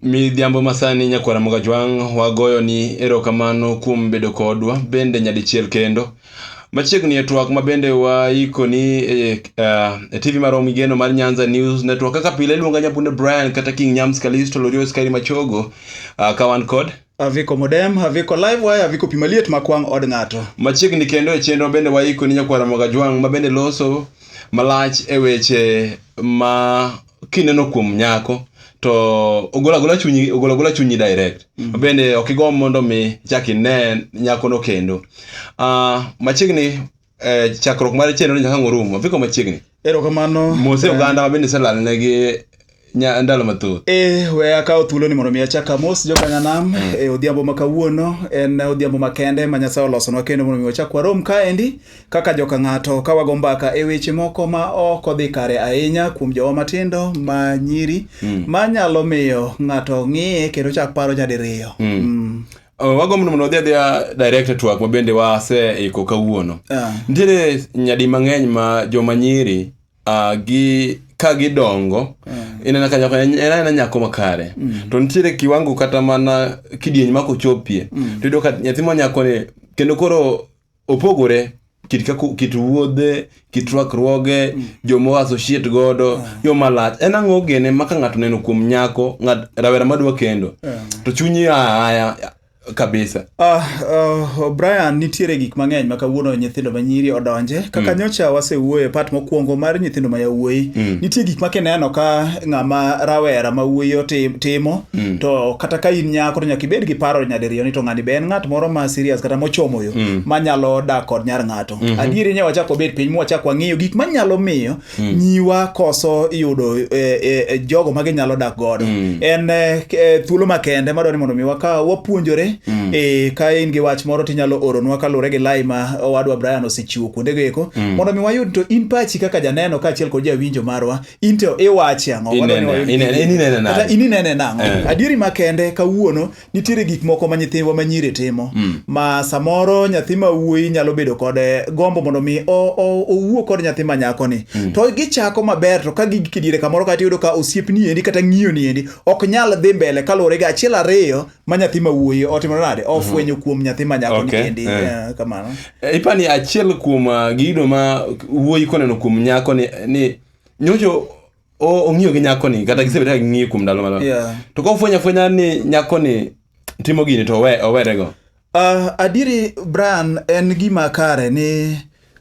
Midhiambo masani nyakwara Mogajwang', wagoyoni erokamano kuom bedo kodwa bende nyadichiel kendo. Machiegni e twak ma bende waikoni e, uh, e TV marwa migeno mar Nyanza News Network. Kaka pile iluonga Nyabundo Brian kata King Nyams Kalisto Lorios Kairi Machogo, uh, ka wan kod Haviko modem, haviko live wire, haviko pima liet ma kwang' od ng'ato. Machiegni kendo e chenro bende waiko ni nyakwara Mogajwang' ma bende loso malach e weche ma kineno kuom nyako to ogolo agola chunyi ogolo agola chunyi direct mm. bende ok igomb mondo mi chak ine nyakono kendo uh, machiegni eh, chakruok mar chenro ni nyaka ang' orumo viko machiegni erokamano mose Eh, oganda mabende iselalnegi nya- ndalo mathoth e we akawo thuolo ni mondo mi achak amos jokanyanam e odhiambo ma kawuono en odhiambo makende ma nyasaye olosonwa kendo mondo mi wachak warom kaendi kaka joka ng'ato ka wago mbaka e weche moko ma ok odhi kare ahinya kuom jowa matindo ma nyiri ma nyalo miyo ng'ato ng'iye kendo chak paro nyadiriyo Mm. Oh, wagombo ni mondo odhi adhiya direct e twak ma bende waseiko kawuono Ah. nitiere nyadi mang'eny ma joma nyiri ah, gi ka gidongo inena ka nyako en en aena nyako makare to nitiere kiwango kata mana kidieny ma kochopie to iyudo ka nyathi ma nyakoni kendo koro opogore kit kako kit wuodhe kit rwakruoge mm. joma associate godo yeah. yo malach en ang'o gene ma ka ng'ato neno kuom nyako ng'at rawera madwa kendo yeah. to chunyi aya kabisa uh, uh, brian nitiere gik mang'eny ma kawuono nyithindo ma nyiri odonje kaka mm. nyocha wasewuoyo e pat mokwongo mar nyithindo ma yawuoyi mm. nitie gik ma kineno ka ng'ama rawera ma wuoyi timo mm. to kata ka in nyako to nyaka ibed gi paro nyadiriyo ni to ng'ani be en ng'at moro ma serious kata mochomo mm. manyalo dak kod nyar ng'ato mm -hmm. adieri ne wachak wabed piny mwachak wang'iyo gik manyalo miyo mm. nyiwa koso yudo e, e, e, jogo ma ginyalo dak godo mm. en e, e, thuolo makende madwa ni mondo mi waka wapuonjore mm. e, ka in gi wach moro tinyalo oronwa kaluwore gi lai ma owadwa Brian osechiwo kuondego eko mm. mondo mi wayud to in pachi kaka janeno kaachiel kod jawinjo marwa in to iwachi ang'o inene nang'o eh. adieri makende kawuono nitiere gik moko ma nyithindwa ma nyiri timo mm. ma samoro nyathi ma wuoyi nyalo bedo kod eh, gombo mondo mi owuo kod nyathi ma nyako ni mm. to gichako maber to ka gigik diere kamoro kata iyudo ka osiep ni endi kata ng'iyo ni endi ok nyal dhi mbele kaluwore gi achiel ariyo ma nyathi ma wuoyi otimo nade mhm. ofwenyo kuom nyathi ma nyako okay. ni endi yeah. Eh. Eh, kamano ipani achiel kuom ah, gido ma wuoyi koneno kuom nyako ni, ni nyocho ong'iyo gi nyako ni kata gisebedo ka ging'iyo kuom ndalo malo yeah. to ka ofwenyo afwenya ni nyako ni timo gini to owe, owerego uh, ah, adiri brian en gima kare ni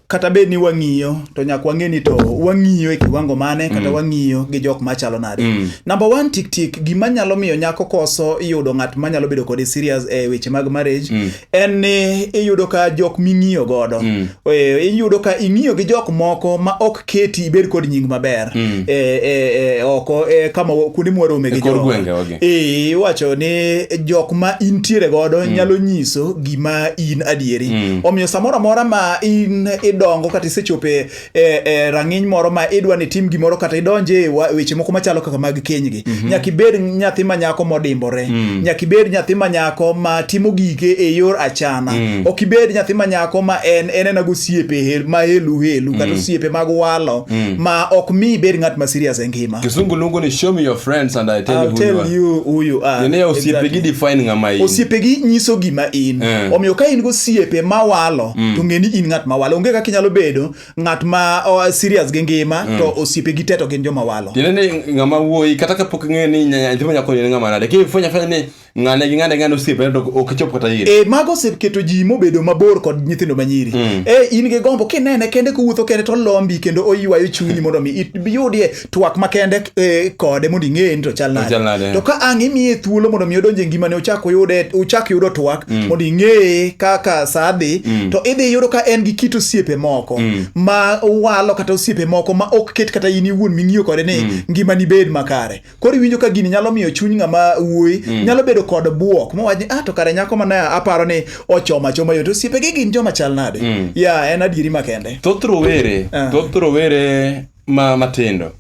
kata bed ni wang'iyo to nyaka wang'e ni to wang'iyo e kiwango mane kata mm. wang'iyo gi jok machalo nade mm. number one tik tik gima nyalo miyo nyako koso yudo ng'at manyalo bedo kode serious e weche mag marriage mm. en ni iyudo ka jok ming'iyo godo mm. e, iyudo ka ing'iyo gi jok moko ma ok keti ibed kod nying maber mm. e, e, e, oko e, kama kuonde mwarome gi jo e, iwacho ni jok ma intiere godo mm. nyalo nyiso gima in adieri mm. omiyo samoro amora ma in idongo kata isechope e, e rang'iny moro ma idwa ni tim gimoro kata idonje e weche moko machalo kaka mag kenygi mm -hmm. nyaka ibed nyathi ma nyako modimbore mm. nyaka ibed nyathi ma nyako ma timo gike e yor achana mm. ok ibed nyathi ma nyako ma en en ena gosiepe ma helu helu mm. kata osiepe mag walo mm. ma ok mi ibed ng'at ma serious e ngima kisungu lungu ni show me your friends and i tell I'll you who you tell are you who you are. Nene ya osiepegi Exactly. define ng'ama in osiepegi nyiso gima in Eh. omiyo ka in go osiepe mawalo to ng'e ni in ng'at mawalo onge kaka inyalo bedo ng'at ma oh, serious gi ngima to osiepegi te to gin joma walo tiende ni ng'ama wuoyi kata kapok ing'eyo ni nya- nyathi manyako ni en ng'ama nade kifwenya fwenya ni ng'ane gi ng'ane ng'ane osiepne to ok chop kata ire e mago oseketo ji mobedo mabor kod nyithindo manyiri mm. e in gi gombo kinene kende kowuotho kende to lombi kendo oywayo chunyi mondo mi iyudie twak makende e, kode mondo ing'eye ni to chal nade to ka ang' imiye thuolo mondo mi odonje ngimane ochak oyude ochak yudo twak mm. mondo ing'eye kaka sa dhi mm. to idhi yudo ka en gi kit osiepe moko ma walo kata osiepe moko ma ok ket kata in iwuon ming'iyo kode ni ngimani bed makare koro iwinjo ka gini nyalo miyo chuny ng'ama wuoyi mm. nyalo bedo kod buok mowach ni ah to kare nyako ma aparo ni ochoma choma yot osiepege gin joma chal nade mm. ya en adieri makende thoth rowere ah. thoth rowere ma matindo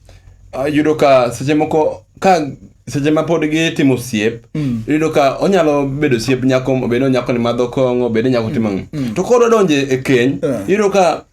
ah, yudo ka seche moko ka seche ma pod gitimo osiep mm. iyudo ka onyalo bedo osiep nyako obed ni onyako ni madho kong'o obed ni nyako timo mm. mm. to koro donje e keny ah. iyudo ka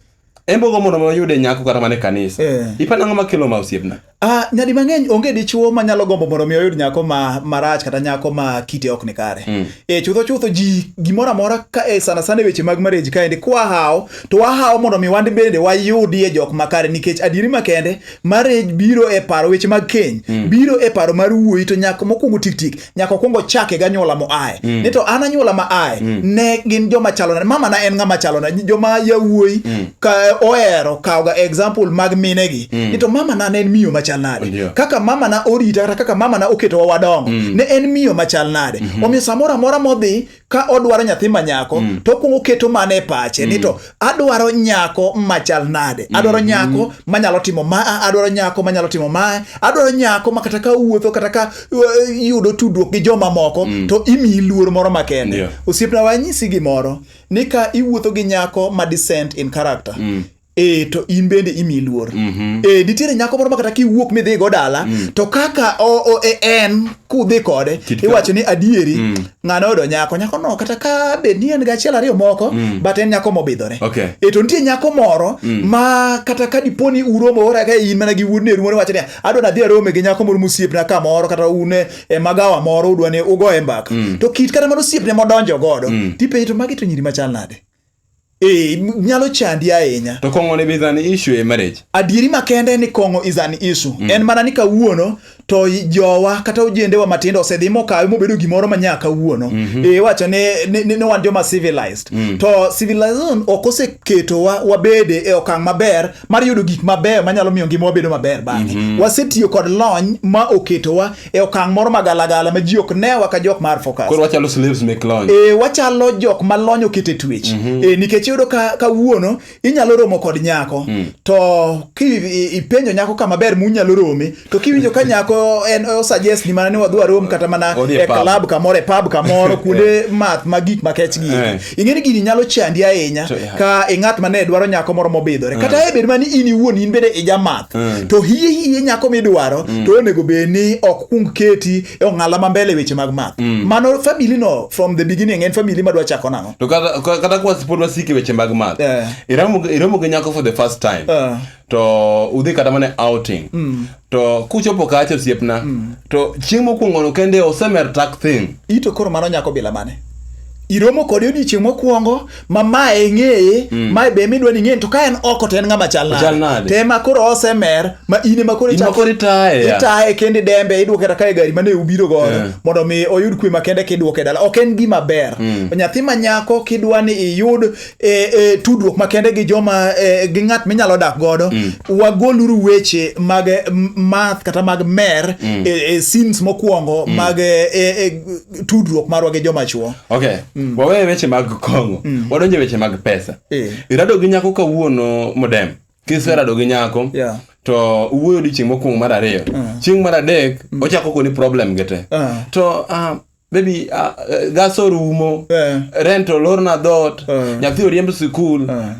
embogo mondo wayude nyako kata mana e kanisa Eh. ipani ang'o makelo ma osiepna Ah, nyadi mang'eny onge dichuo ma nyalo gombo mondo mi oyud nyako ma marach kata nyako ma kite ok ni kare. Mm. E chutho chutho ji gimoro amora ka e sana sana e weche mag marriage kaendi kwa hawo to wahawo mondo mi wande bende wayudie jok makare nikech adieri makende marriage biro e paro weche mag keny mm. biro e paro mar wuoyi to nyako mokwongo tik tik nyaka okwong ochake ganyuola moaye mm. ni to an anyuola ma aye mm. ne gin joma chalona mama na en ng'ama chalona joma yawuoyi mm. ka ohero kawoga example mag minegi mm. ni to mama na ne en miyo machal nade yeah. kaka mama na orita kata kaka mama na oketowa wadongo mm. ne en miyo machal nade mm -hmm. omiyo samoro amora modhi ka odwaro nyathi ma nyako mm. to okwongo keto mane e pache mm. ni to adwaro nyako machal nade mm. adwaro nyako manyalo timo ma adwaro nyako manyalo timo ma adwaro nyako ma kata ka wuotho kata ka uh, yudo tudruok gi joma moko mm. to imiyi luor moro makende yeah. osiepna wanyisi gimoro ni ka iwuotho gi nyako ma descent in character mm. e to in bende imi luor mm -hmm. e nitiere nyako moro makata kiwuok midhi go dala mm. to kaka o, o, e, en kudhi kode iwacho ni adieri mm. ng'ano odo nyako nyako no kata ka be ni en gachiel ariyo moko mm. but en nyako mobidhore okay. e to nitie nyako moro mm. ma kata ka dipo ni uromo ora ka in mana gi wuodne rumo wacho ni adwa nadhi arome gi nyako moro mosiepna kamoro kata un e, e magawa moro udwa ni ugoye mbaka mm. to kit kata mano osiepne modonjo godo mm. tipenjo to magi to nyiri machal nade Eh, m- nyalo chandi ahinya To kong'o ne be is an issue e marriage. adieri makende ni kong'o is an issue en mana ni kawuono to i- jowa kata ojendewa matindo osedhi mokawe mobedo gimoro ma nyaka kawuono e, wacho ni ni- ni ni wan joma civilized to civilization ok oseketowa wabede e okang' maber mar yudo gik mabeyo manyalo miyo ngimawa bedo maber bang'e. Mm -hmm. Wasetiyo kod lony ma oketowa e okang' moro magalagala ma ji ok newa ka jok mar focus. Koro wachalo slaves mek lony. E, wachalo jok ma lony okete twech. Mm -hmm. E, nikech iyudo ka, ka wuono inyalo romo kod nyako. Mm. To kipenjo nyako kama ber munyalo rome to kiwinjo ka nyako en osuggest ni mana ni wadwa rom kata mana Odhi e e pub. club kamoro e pub kamoro kuonde math ma gik makech gi Eh. ing'eni gini nyalo chandi ahinya To, yeah. ka e ng'at mane dwaro nyako moro mobidhore kata e bed mani in iwuon in bende ijamath to hie hie nyako midwaro to onego bed ni ok kung keti e ong'ala ma mbele weche mag math mano family no from the beginning en family madwa chako nang'o to kata ka- kata kwa pod wasiki weche mag math Eh. iromo iromo gi nyako for the first time Eh. to udhi kata mana outing mm. to kuchopo kacha osiepna mm. to chieng' mokwongono kende osemer tak thing ito koro mano nyako bila mane iromo kode odiochieng' mokwongo ma mae ing'eye mm. mae be midwa ni ing'eye to ka en oko to en ng'ama chal nade te ma koro osemer ma ine ma koro itaye kendi dembe idwoke kata kae gari mane ubiro godo yeah. mondo mi oyud kwe ma kende kidwoke dala ok en gima ber mm. nyathi ma nyako kidwa ni iyud e, e, tudruok makende gi joma e, gi ng'at minyalo dak godo mm. wagoluru weche mag e, math kata mag mer mm. e, e, sins mokwongo mm. mag e, e, e tudruok marwa gi joma chuo okay. mm. waweye weche mag kong'o mm. wadonje weche mag pesa e. irado gi nyako kawuono modem kiserado gi nyako yeah to uwuoyo odiochieng' mokwongo mar ariyo mm. chieng' mar adek mm. ochako koni problem gi te uh. to uh, maybe uh, uh, gas orumo yeah. rent olorna dhot yeah. nyathi oriemb sikul yeah.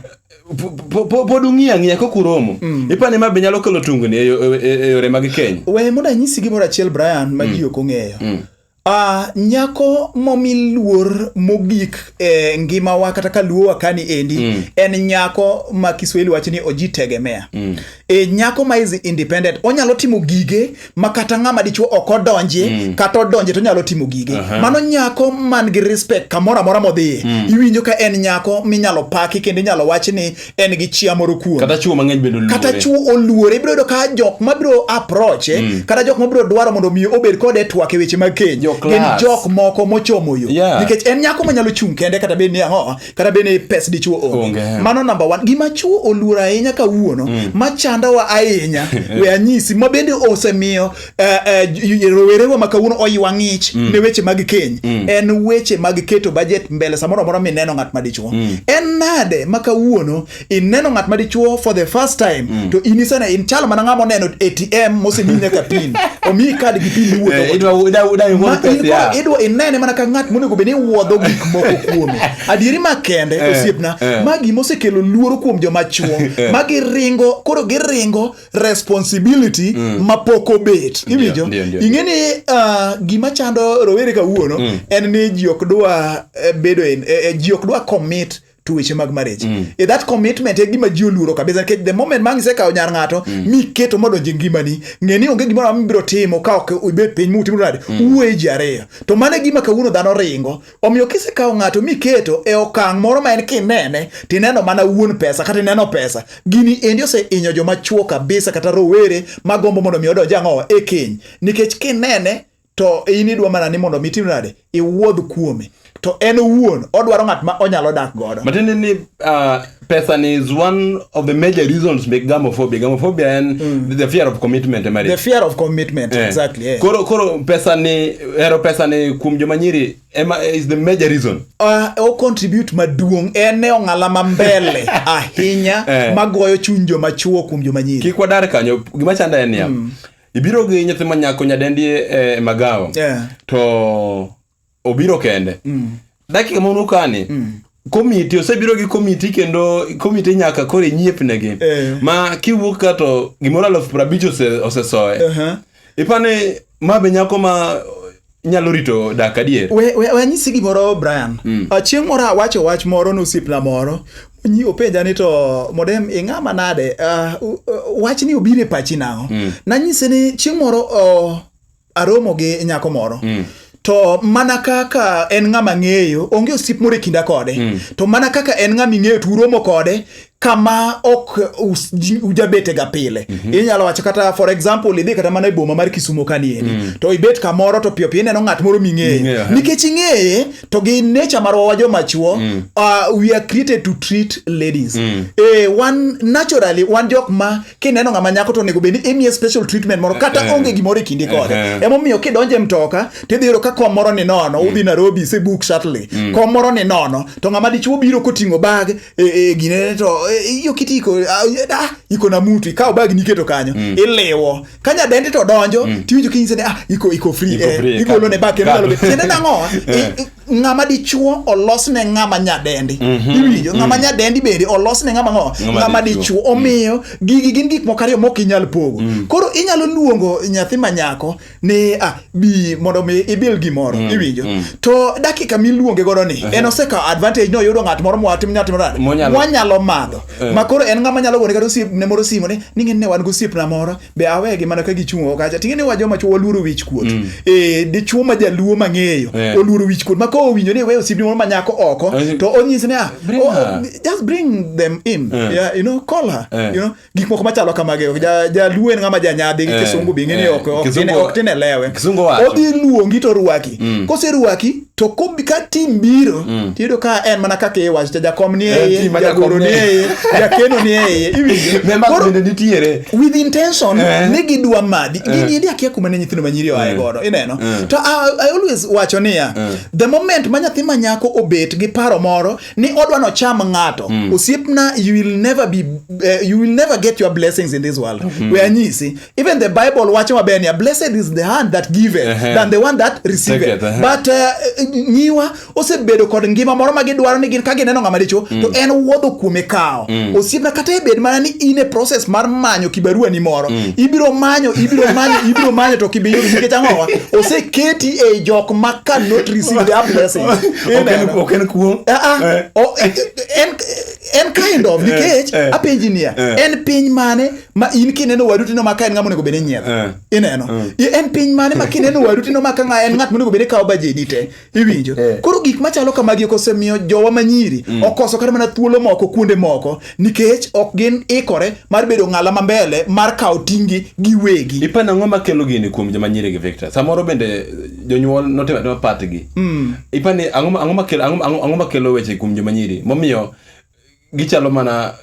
pod ung'iya ng'iya kok uromo mm. ipani ma be nyalo kelo tungni e, e, e, e yore mag keny we mondo anyisi gimoro achiel brian ma mm. ji ok ong'eyo mm. Uh, nyako momi luor mogik e ngimawa kata ka luowa kani endi mm. en nyako ma kiswahili wacho ni oji tegemea mm. e nyako ma is independent onyalo timo gige ma kata ng'ama dichuo ok odonje mm. kata odonje to onyalo timo gige uh -huh. mano nyako man gi respect kamoro amora modhiye mm. iwinjo ka en nyako minyalo paki kendo inyalo wach ni en gi chia moro kuom kata chuo mang'eny bedo luore kata chuo oluore ibiro yudo ka jok ma biro approach eh, mm. kata jok ma biro dwaro mondo mi obed kode twak e weche mag keny gin jok moko mochomo yo yeah. nikech en nyako manyalo chung kende kata bed ni ang'o kata bende ni pes dichuo onge Onge. Mm. mano namba one gima chuo oluoro ahinya kawuono machandowa ahinya we anyisi ma bende osemiyo eh, eh, j- j- rowerewa ma kawuono oywa ng'ich Mm. ne weche mag keny en weche mag keto bajet mbele samoro amora mineno ng'at madichuo Mm. en nade ma kawuono ineno ng'at ma dichuo for the first time mm. to in isene in chal mana ng'ama oneno atm mosemi nyaka pin omiyi kad gi pin iwuothoidwa eh, inene mana ka ng'at monego bed ni wuodho gik moko kuome adieri ma kende eh, osiepna eh. ma gima osekelo luoro kuom joma chuo ma giringo koro giringo responsibility mm. ma pok obet iwinjo ing'e ni ah, gima chando rowere kawuono mm. en ni ji ok dwa bedo ji ok dwa commit to weche mag marriage mm. e that commitment e gima ji oluoro kabisa nikech the moment ma ngisekawo nyar ng'ato mm. miketo modonjo e ngimani ng'e ni onge gimoro amora mibiro timo ka ok ibet piny mutimo nade mm. uwuoye ji ariyo to mano e gima kawuono dhano ringo omiyo kisekawo ng'ato miketo e okang' moro ma en kinene tineno mana wuon pesa kata ineno pesa gini endi oseinyo joma chuo kabisa kata rowere magombo mondo mi odonj ang'owa e keny nikech kinene to in idwa mana ni mondo mitim nade iwuodh kuome to en owuon odwaro ng'at ma onyalo dak godo matiende ni uh, pesa ni is one of the major reasons make gamophobia gamophobia en mm. the fear of commitment eh, the fear of commitment yeah. exactly yeah. koro koro pesa ni hero pesa ni kuom joma nyiri ema eh, is the major reason uh, o contribute maduong en ne ong'ala ma mbele ahinya yeah. magoyo chuny joma chuo kuom joma nyiri kik wadar kanyo gima chanda en niya mm. ibiro gi nyathi ma nyako nyadendi e magawa yeah. to obiro kende mm. dakika ma unukani mm komiti osebiro gi komiti kendo komiti nyaka koro inyiepnegi e. Eh. ma kiwuok ka to gimoro aluf prabich osesoye ose uh -huh. ipani ma be nyako ma nyalo rito dak adier we, we, we anyisi gimoro brian mm. chieng' moro awacho wach moro ne osiepna moro nyi openja ni to modem ing'a manade uh, uh, wach ni obiro e pachi nang'o mm. nanyise ni chieng' moro uh, aromo gi nyako moro mm to mana kaka en ng'ama ng'eyo onge osiep moro e kinda kode mm. to mana kaka en ng'ama ing'eyo to uromo kode kama ok ujabetega pile mm -hmm. inyalo wacho kata for example idhi kata mana e boma mar kisumo kanieni mm -hmm. to ibet kamoro to piyo piyo ineno ng'at moro ming'eye mm -hmm. nikech ing'eye to gi nature marwa wa jomachuo mm -hmm. uh, we are created to treat ladies mm -hmm. eh, wan naturally wan jok ma kineno ng'ama nyako to onego bed ni imiye special treatment moro kata uh eh, -huh. Eh. onge gimoro e kinde kode uh eh, -huh. emomiyo kidonje mtoka tidhi yudo ka kom moro ni nono mm -hmm. udhi Nairobi se book shuttle mm -hmm. kom moro ni nono to ng'ama dichuo biro koting'o bag e, e, ginene to e, iyo kiti iko ah, e, ah, iko na mutu ikawo bag niketo kanyo mm. iliwo ka nyadendi to donjo mm. tiwinjo kinyise ni ah, iko iko free Iko eh, free, igolo ne bag kendo kado. nyalo bet tiende nang'o Eh. I- i- ng'ama dichuo olos ne ng'ama nyadendi iwinjo ng'ama nyadendi bende olos ne ng'ama ng'o Ng'ama ng'ama dichuo. dichuo omiyo gigi gin gik moko ariyo mok inyal pogo koro inyalo luongo nyathi ma nyako ni ah, bi mondo mi ibil gimoro mm, iwinjo mm. to dakika miluonge godo ni uh-huh. en osekawo advantage no oyudo ng'at moro mwatim nyatim nade wanyalo madho uh. Eh. makoro en ng'ama nyalo gone kata osiep ne moro simo ni ni ng'e ne wan gosiep na moro be awegi mana ka gichung' oko kacha ting'e ni wajo macho waluoro wich kuot mm. eh dichuo ma jaluo mang'eyo yeah. oluoro wich kuot mako owinjo ni we osiep ni moro ma nyako oko uh, to onyis ni ah oh, just bring them in uh. yeah, you know call her uh. you know gik moko machalo kamageo jaluo en ng'ama janyadhi gi eh, kisungu bi ng'eni eh, ok tin e lewe odhi luongi to rwaki mm. koserwaki to ka tim biro mm. tiyudo ka en mana kaka iwacho cha jakom ni eh, eye jagoro ni eye jakeno ni eye with intention ni gidwa madhi gini akia kuma ne nyithindo manyiri oaye godo ineno to i always wacho niya the moment ma nyathi manyako obet gi paro moro ni odwa no cham ng'ato mm. osiepna you will never be uh, you will never get your blessings in this world mm. we anyisi even the bible wacho maber niya blessed is the hand that give uh -huh. than the one that receive it uh -huh. but uh, nyiwa osebedo kod ngima moro ma gidwaro ni gin ka gineno ng'ama dicho mm. to en wuodho kuome kawo mm. osiepna kata ebed mana ni in e process mar manyo kibarua ni moro mm. ibiro manyo ibiro manyo ibiro manyo to kibiyudo nikech ang'owa oseketi e jok ma cannot receive their blessings ok en kuo ah, ah. eh. oh, eh, en en kind of nikech eh, apenji niya en piny mane ma in kineno wadu tino maka en ng'ama onego bed ni nyiero ineno mm. en piny mane ma kineno wadu tino maka ng'a en ng'at monego bed ni kawo bajedi te iwinjo koro gik machalo kamagi okosemiyo jowa manyiri mm. okoso kata mana thuolo moko kuonde moko nikech ok gin ikore mar bedo ng'ala ma mbele mar kawo tinggi giwegi ipa nang'o makelo gini kuom joma nyiri gi victor samoro bende eh, jonyuol notimo atema patgi mm. ipa ni ang'o ma- ang'o makelo ang'o- ang'o ang'o makelo weche kuom joma nyiri momiyo gichalo mana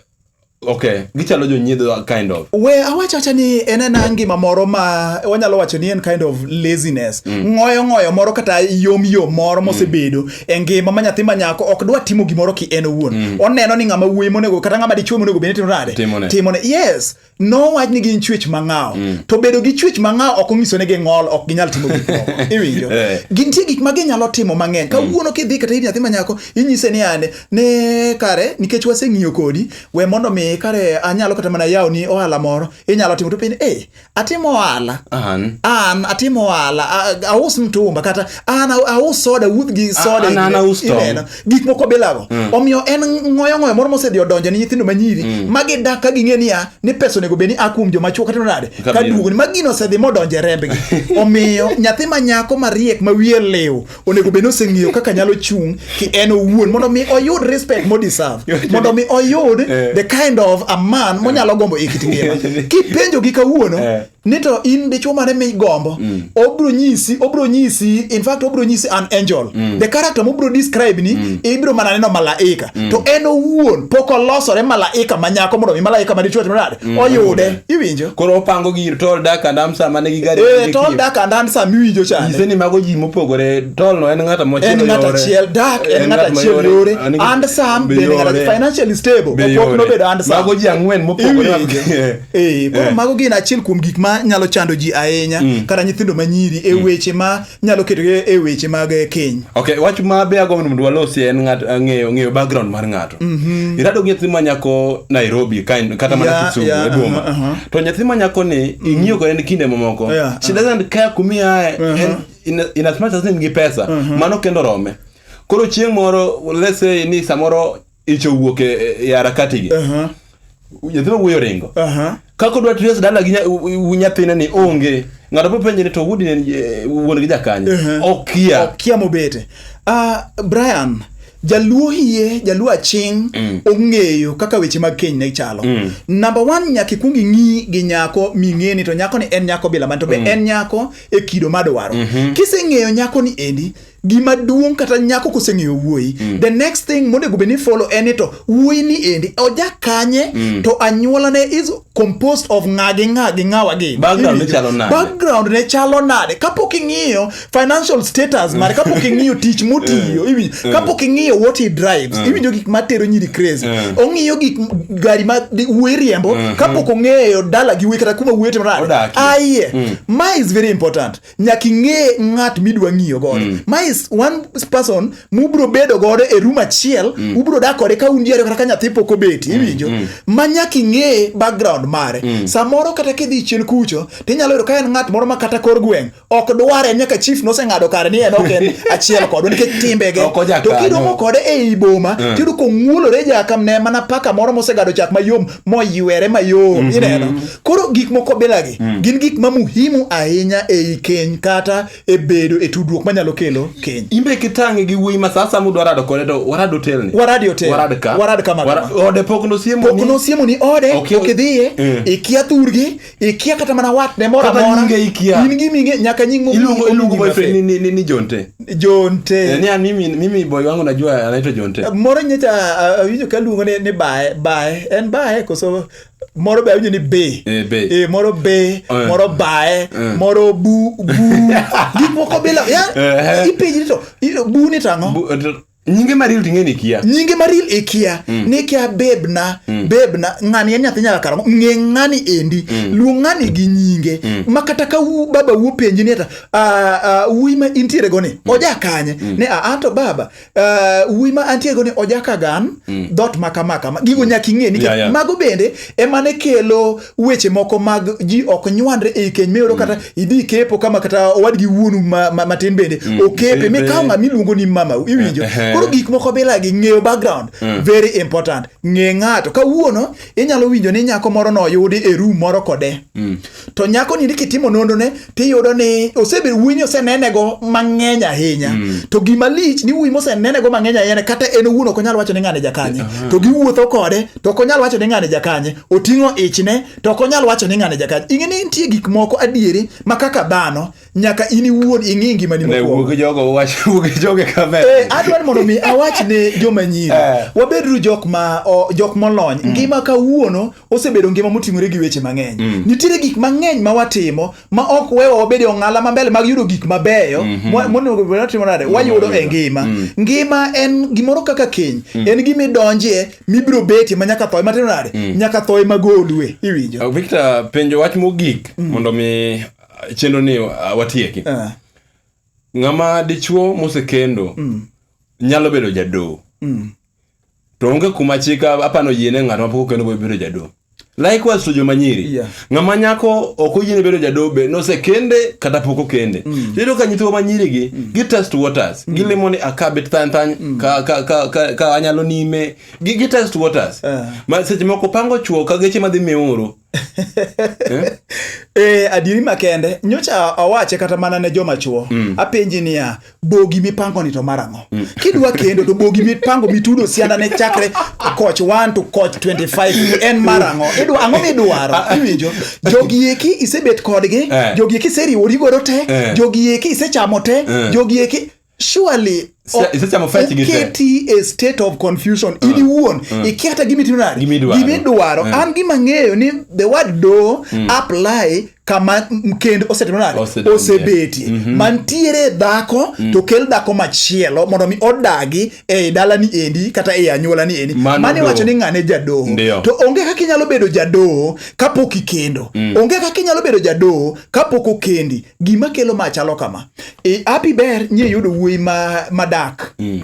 okay gichalo jonyiedho kind of we awacho acha ni en ena ngima moro ma wanyalo wacho ni en kind of laziness ng'oyo ng'oyo moro kata yom yom moro mosebedo e ngima ma nyathi ma nyako ok dwa timo gimoro ki en owuon mm. oneno ni ng'ama wuoyi monego kata ng'ama dichwe monego bende timo nade timone yes no wach ni gin chwech mang'aw mm. to bedo gi chwech mang'aw ok onyiso ni ging'ol ok ginyal timo gik moko iwinjo eh. gintie gik ma ginyalo timo mang'eny mm. kawuono kidhi kata ir nyathi ma nyako inyise ni ane ne kare nikech waseng'iyo kodi we mondo mi kare anyalo kata mana yawo ni ohala moro inyalo timo to piny e eh, atimo ohala an an atimo ohala a- aus mtumba kata an a- aus soda wuoth gi soda an- an ineno- aus tong'. ineno. gik moko bilago omiyo en ngoyo ngoyo moro mosedhi odonjo ne nyithindo manyiri ma gidak ka ging'e niya ni pesa onego bed ni a kuom joma chuo kata nade ka Kabisa. duogo ni ma gino osedhi modonjo e rembgi omiyo nyathi ma nyako mariek ma wiye liw onego bed ni oseng'eyo kaka nyalo chung' ki en owuon mondo mi oyud respect mo deserve mondo mi oyud eh. the kind of a man eh. monyalo gombo e kit ngima kipenjo gi kawuono eh. ni to in dichuo mane migombo mm. obro nyisi obro nyisi in fact obro nyisi an angel mm. the character mobro describe ni mm. ibro mana neno malaika mm. to en owuon pok olosore malaika manyako mondo mi malaika madichwe timo nade mm. oyude iwinjo koro opango gir tol dak and amsa mane gi gari eh tol dak and amsa miwinjo chande iseni mago ji mopogore tol no en ng'ata mochiel en ng'ata chiel dak en ng'ata chiel yore and sam be ng'ata financially stable opok no bedo and sam mago ji ang'wen mopogore eh. eh koro eh. mago gin achiel kuom gik ma nyalo chando ji ahinya mm. kata nyithindo manyiri e mm. weche ma nyalo keto e weche mag e keny okay wach ma be agombo mondo walosi en ng'at eh, ng'eyo ng'eyo background mar ng'ato mhm. irado gi nyathi ma nyako Nairobi kata mana yeah, Kisumu yeah, e boma uh -huh, uh -huh. to nyathi ma nyako ni mhm. ing'iyo kode ni kinde mamoko yeah, she doesn't care kumi aye uh -huh. in, in as much as in gi pesa uh mhm. -huh. mano kendo rome koro chieng' moro let's say ni samoro ich owuok e, e, e harakati gi Aha, nyathi ma wuoyi oringo aha. kaka odwa tres dala gi nya- u- u- nyathine ni onge ng'ato po penje ni to wudi ne eh, wuon gi jakanye Mhm. okia okia mobete Ah, brian jaluo hie jaluo aching ong'eyo kaka weche mag keny ne chalo namba one nyaka ikwong ing'i gi nyako ming'eni to nyako ni en nyako bila man to be en nyako e kido madwaro kiseng'eyo nyako ni endi gima duong' kata nyako koseng'eyo wuoyi mm. the next thing monego bed ni follow en ni to wuoyi ni endi oja kanye mm. to anyuolane is composed of ng'a gi ng'a gi ng'awa gi background ne chalo nade background ne chalo nade kapok ing'iyo financial status mm. mare kapok ing'iyo tich motiyo eh. eh. kapok ing'iyo what he drives eh. iwinjo gik matero nyiri crazy ong'iyo gik gari ma wuoyi riembo kapok ong'eyo dala gi wuoyi kata kuma wuoyi timore aye ma is very important nyaka ing'e ng'at midwa ng'iyo godo mm. ma is one person mubro bedo godo e room achiel mm. ubro dak kode ka un ji ariyo kata ka nyathi pok obeti mm, iwinjo mm. ma nyaka ing'e background mare mm. samoro kata kidhi chien kucho tinyalo yudo ka en ng'at moro ma kata kor gweng' ok dware nyaka chief noseng'ado kare ni en ok en achiel kodwa nikech timbege to kiromo kode e i boma mm. tiyudo kong'uolore jakamne mana paka moro mosegado chak mayom moywere mayom mm -hmm. ineno koro gik moko bilagi mm. gin gik ma muhimu ahinya ei keny kata e bedo e tudruok manyalo kelo keny imbe kitang'e gi wuoyi ma sasa mudwa rado kode to warad hotel ni warad hotel warad ka warad ka ode pok nosiemo ni pok nosiemo ni ode okay. ok idhiye mm. ikia thurgi ikia kata mana watne moro Kata amora. nyinge ikia. in gi minge nyaka nying mo- Iluongo iluongo nyingi boyfriend ni ni ni- ni Jonte. mafe. jonte Eh, ni an mimi mimi boy wangu najua anaitwa Jonte. moro nyecha ah, awinjo ka luongo ni, ni bae bae en bae koso moro be awinjo ni be Eh, be. Eh, moro be Eh. moro bae Eh. moro bu bu gik moko bila ya Eh. ipenjri to i- bu ni tang'o Bu- nyinge maril ting'e ni kia nyinge maril ikia mm. ni kia bebna mm. bebna ng'ani en nyathi nyaka kara ng'e ng'ani endi mm. luong ng'ani gi nyinge mm. ma kata ka u, baba wuo penji ni ata uh, uh, wuyi ma intiere go ni mm. oja kanye mm. ni a to baba uh, wuyi ma antiere go ni oja kagan mm. dot maka maka gigo mm. nyaka ing'e ni yeah, yeah. mago bende emane kelo weche moko mag ji ok nywandre ei keny miyudo kata mm. idhi kepo kama kata owadgi wuonu matin bende mm. okepe mikawo ng'ama iluongo ni mama iwinjo eh, eh. koro gik moko bilagi ng'eyo background mm. very important ng'e ng'ato kawuono inyalo winjo ni nyako moro noyudi e rum moro kode to nyako nindi kitimo nondone tiyudo ni osebedo wuoyi ni osenenego mang'eny ahinya mm. to gima lich ni wuoyi mosenenego mang'eny ahinya kata en owuon ok onyal wacho ni ng'ane jakanye uh-huh. to giwuotho kode to ok onyal wacho ni ng'ane jakanye oting'o ichne to ok onyal wacho ni ng'ane jakanye ing'e ni nitie gik moko adieri ma kaka dhano nyaka in iwuon ing'i ngimani mokuongo eh, adwar mondo mi awach ne joma nyiri eh. wabedru jok ma jok molony mm. ngima kawuono osebedo ngima moting'ore gi weche mang'eny mm. nitiere gik mang'eny ma watimo ma ok wewa wabede ong'ala mambele mag yudo gik mabeyo mm -hmm. monego bed watimo nade mm. wayudo e ngima mm. ngima en gimoro kaka keny mm. en gima idonjie mibiro betie ma nyaka thoe matimo nade mm. nyaka thoe magolue iwinjo uh, victor penjo wach mogik mm. mondo mi uh, chenro ni uh, watieki uh. ng'ama dichuo mosekendo mm. nyalo bedo jadoo mm. to onge kuma chik apano yiene ng'at mapok okendo go bedo jadolo likewise to joma nyiri Yeah. ng'ama nyako ok oyiene bedo jadolo be nosekende kata pok okende iyudo ka nyithiwa ma nyirigi gi test waters gilimo ni akabet thany thany ka- ka- ka- ka- ka anyalo nime gi gi test waters Eh. ma seche moko pango chuo ka geche madhi miuru Eh? eh, adieri makende nyocha awache kata mana ne joma chuo mm. apenji niya bogi mipango ni to marang'o mm. kidwa kendo to bogi mipango mitudo sianda ne chakre koch 1 to koch 25 en marang'o idwa ang'o midwaro ah, ah. iwinjo jogi eki isebet kodgi eh. jogi eki iseriwori godo te eh. jogi eki isechamo te eh. jogi eki surely Sa- o- seche mofwenyo chigi te. oketi e state of confusion in iwuon ikia kata gima itimo nade Gimidwaro. gimidwaro Mm. an gima ng'eyo ni the word do apply kama m- kend osetimo nade Osedonje. osebetie mantiere dhako to kel dhako machielo mondo mi odagi e dalani endi kata e anyuolani endi mano iwacho ni ng'ane jadoho to onge kaka inyalo bedo jadoho kapok ikendo mm. onge kaka inyalo bedo jadoho kapok okendi gima kelo ma chalo kama e api ber nye yudo wuoyi ma, madak mm.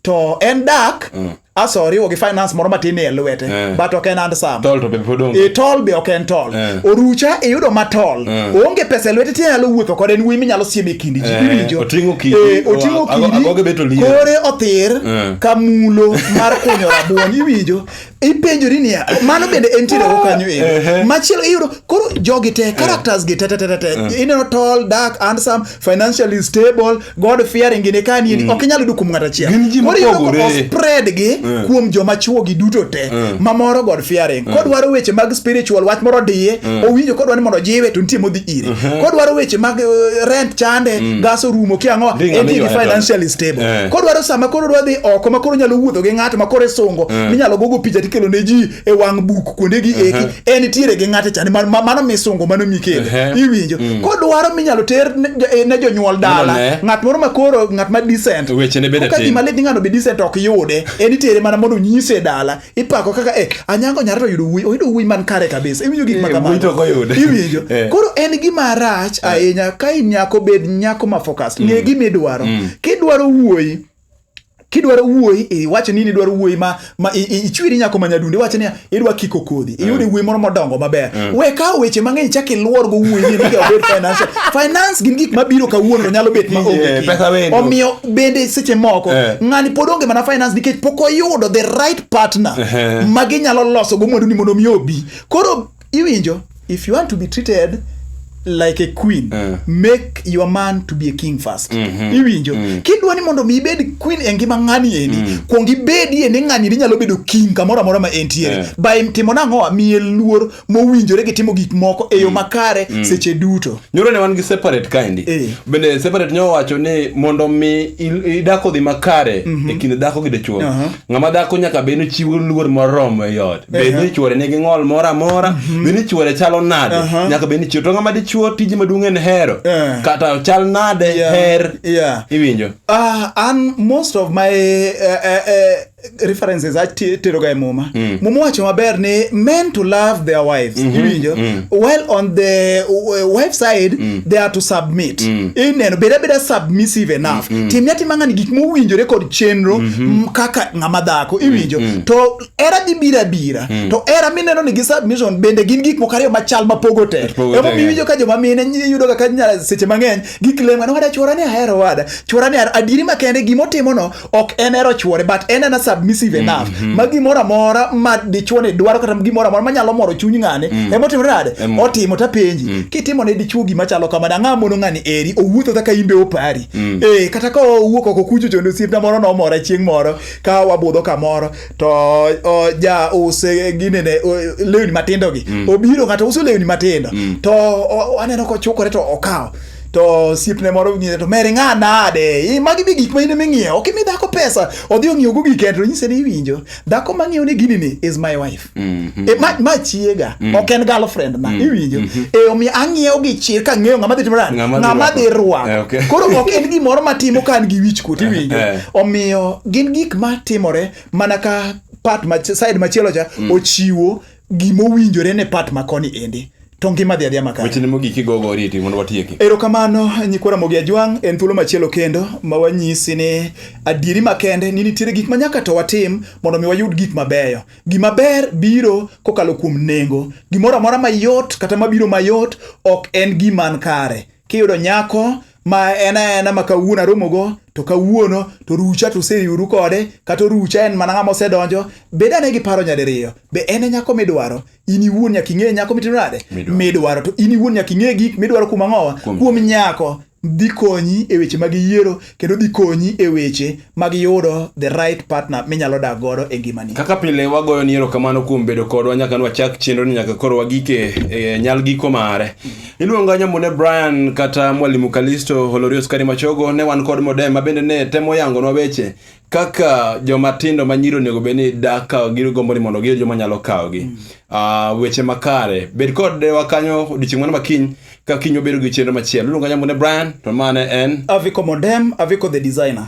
to en dak mm. asoriwo gi finance moro matin e lwete eh. but ok en handsome tol to be pod onge e tol be ok en tol eh. orucha iyudo ma tol eh. onge pesa lwete ti nyalo wuotho kod en wuoyi minyalo sieme kindi ji iwinjo otingo kidi eh, otingo kidi kore othir ka mulo mar kunyo rabuon iwinjo ipenjori niya mano bende en tiere go kanyo e machielo iyudo koro jogi te characters gi te te te te ineno tol dark handsome financially stable god fearing gini ka ni mm. ok inyal yudo kuom ng'at achiel gin ji mopogore ospread gi mm. kuom joma chuo gi duto te mm. ma moro god fearing mm. kodwaro weche mag spiritual wach moro diye mm. owinjo kodwa ni mondo jiwe to nitie modhi ire mm -hmm. kodwaro weche mag uh, rent chande mm. gas orumo ki ang'o en gi financially stable yeah. kodwaro sama koro dwa dhi oko ma koro nyalo wuotho gi ng'ato ma koro isungo yeah. minyalo gogo picha tikelo ne ji e wang' buk kuonde gi eki en tiere gi ng'ate chani ma- ma- mano misungo mano mikele Ehe. iwinjo kodwaro minyalo ter ne jo- eh, ne jonyuol dala Nonone. ng'at moro ma koro ng'at ma decent Wechene bende Koka tin. gima lit ni ng'ano be decent ok yude en itere mana mondo onyise e dala ipako kaka eh anyango nyare to yudo wuoyi oyudo wuoyi man kare kabisa iwinjo gik ma Eh, wuoyi to ok oyude. kamago iwinjo Eh. koro en gima rach ahinya ka in nyako bed nyako ma focus ng'e gima idwaro kidwaro wuoyi kidwaro wuoyi iwacho ni idwaro wuoyi ma, ma ichwiri nyako ma nyadundo iwacho ni idwa kiko kodhi mm. iyude wuoyi moro modongo maber mm. we kawo weche mang'eny chak iluor go wuoyi ni miga obed financial finance gin gik mabiro kawuono nyalo bet ma onge yeah, omiyo bende seche moko yeah. ng'ani pod onge mana finance nikech pok oyudo the right partner uh -huh. ma ginyalo loso go mwandu ni mondo mi obi koro iwinjo if you want to be treated like a queen Eh. make your man to be a king first iwinjo kidwa ni mondo mi ibed queen e ngima ng'ani endi kuong ibedie ni ng'ani ni nyalo bedo king kamoro amora ma entiere Eh. by timo nang'o miye luor mowinjore gi timo gik moko e yo makare seche duto nyoro ne wan gi separate kaendi Eh. bende separate nyo wacho ni mondo mi il- idako dhi makare e kind dhako gi dichuo Aha. ng'ama dhako nyaka bed ni chiwo luor moromo e ot bed ni chwore nigi ng'ol moro amora mhm. bed ni chwore chalo nade nyaka bed ni chwo to ng'ama dichwo tije maduong' en hero eh. kata chal nade her iwinjo ah, an most of my eh, eh, references ateroga e muma mm. muma wacho maber ni men to love their wives mm -hmm. iwinjo mm. while on the uh, wife side mm. they are to submit mm. ineno beda beda submissive enough mm -hmm. timne atima ng'ani gik mowinjore kod chenro mm -hmm. kaka ng'ama dhako mm, iwinjo mm. -hmm. to era dhi bira bira hmm. to era mineno ni gi submission bende gin gik moko ariyo machal mapogo te emo miwinjo ka joma mine yudo ga kanya seche mang'eny giklema ni wada chwora ni ahero wada chwora ni ahero adieri makende gima otimono ok en ero chwore but en ana submissive hmm, enough hmm. ma gimoro amora ma dichwo ni dwaro kata gimoro amora manyalo moro chuny ng'ani hmm. ema otimore nade otimo tapenji hmm. kitimo ne dichwo gima chalo kamano ang'a mono ng'ani eri owuotho kaka imbe opari hmm. eh kata ka owuok oko kucho chondo osiepna moro nomora chieng' moro ka wabudho kamoro to o, ja use ginene o, lewni matindo gi mm. obiro ng'ato uso lewni matindo mm. to o, aneno kochukore to okawo to siepne moro ng'ise to mere ng'a nade I, magi be gik ma in ema ing'iewo ok imi dhako pesa odhi ong'iewogo gike to nyise ni iwinjo dhako ma ng'iewo ni gini ni is my wife Mm -hmm. e, ma, ma chiega mm -hmm. ok en girlfriend na mm -hmm. iwinjo mm -hmm. e omiyo ang'iewo gi chir ka ng'eyo ng'ama dhi timo nani ng'ama dhi rwako eh, okay. koro ok en gimoro matimo ka an gi wich kuot eh, iwinjo eh. omiyo gin gik matimore mana ka part ma, side machielo cha mm. ochiwo gima owinjore ne part ma koni endi to ngima dhi adhiya makare. Wechene mogik igogo oriti mondo watieki. Erokamano nyikwa Ramogi Ajwang' en thuolo machielo kendo ma wanyisi ni adieri makende ni nitiere gik ma nyaka to watim mondo mi wayud gik mabeyo. Gima ber biro kokalo kuom nengo. Gimoro amora mayot kata mabiro mayot ok en giman kare. Kiyudo nyako ma en aena ma kawuono aromogo to kawuono to rucha to useriuru kode kata rucha en mana ng'ama osedonjo bed ane gi paro nyadiriyo be en e nyako midwaro in iwuon nyaka ing'e nyako mitimo nade midwaro to in iwuon nyaka ing'e gik midwaro kuom ang'owa kuom nyako dhi konyi e weche mag yiero kendo dhi konyi e weche mag yudo the right partner minyalo dak godo e ngimani. Kaka pile wagoyo ni erokamano kuom bedo kodwa nyaka ne wachak chenro ni nyaka koro wagike e nyal giko mare. Iluonga Nyamune Brian kata Mwalimu Kalisto Holorio Skari Machogo ne wan kod Modem ma bende ne temo yangonwa weche kaka jomatindo ma nyiri onego bed ni dak ka gigombo ni mondo giyud joma nyalo kawogi Ah, weche makare bed kod dewa kanyo odiochieng' mano makiny ka kiny obedo gi chenro machielo iluonga nyambo ne brian to mane en Aviko Modem, Aviko the designer.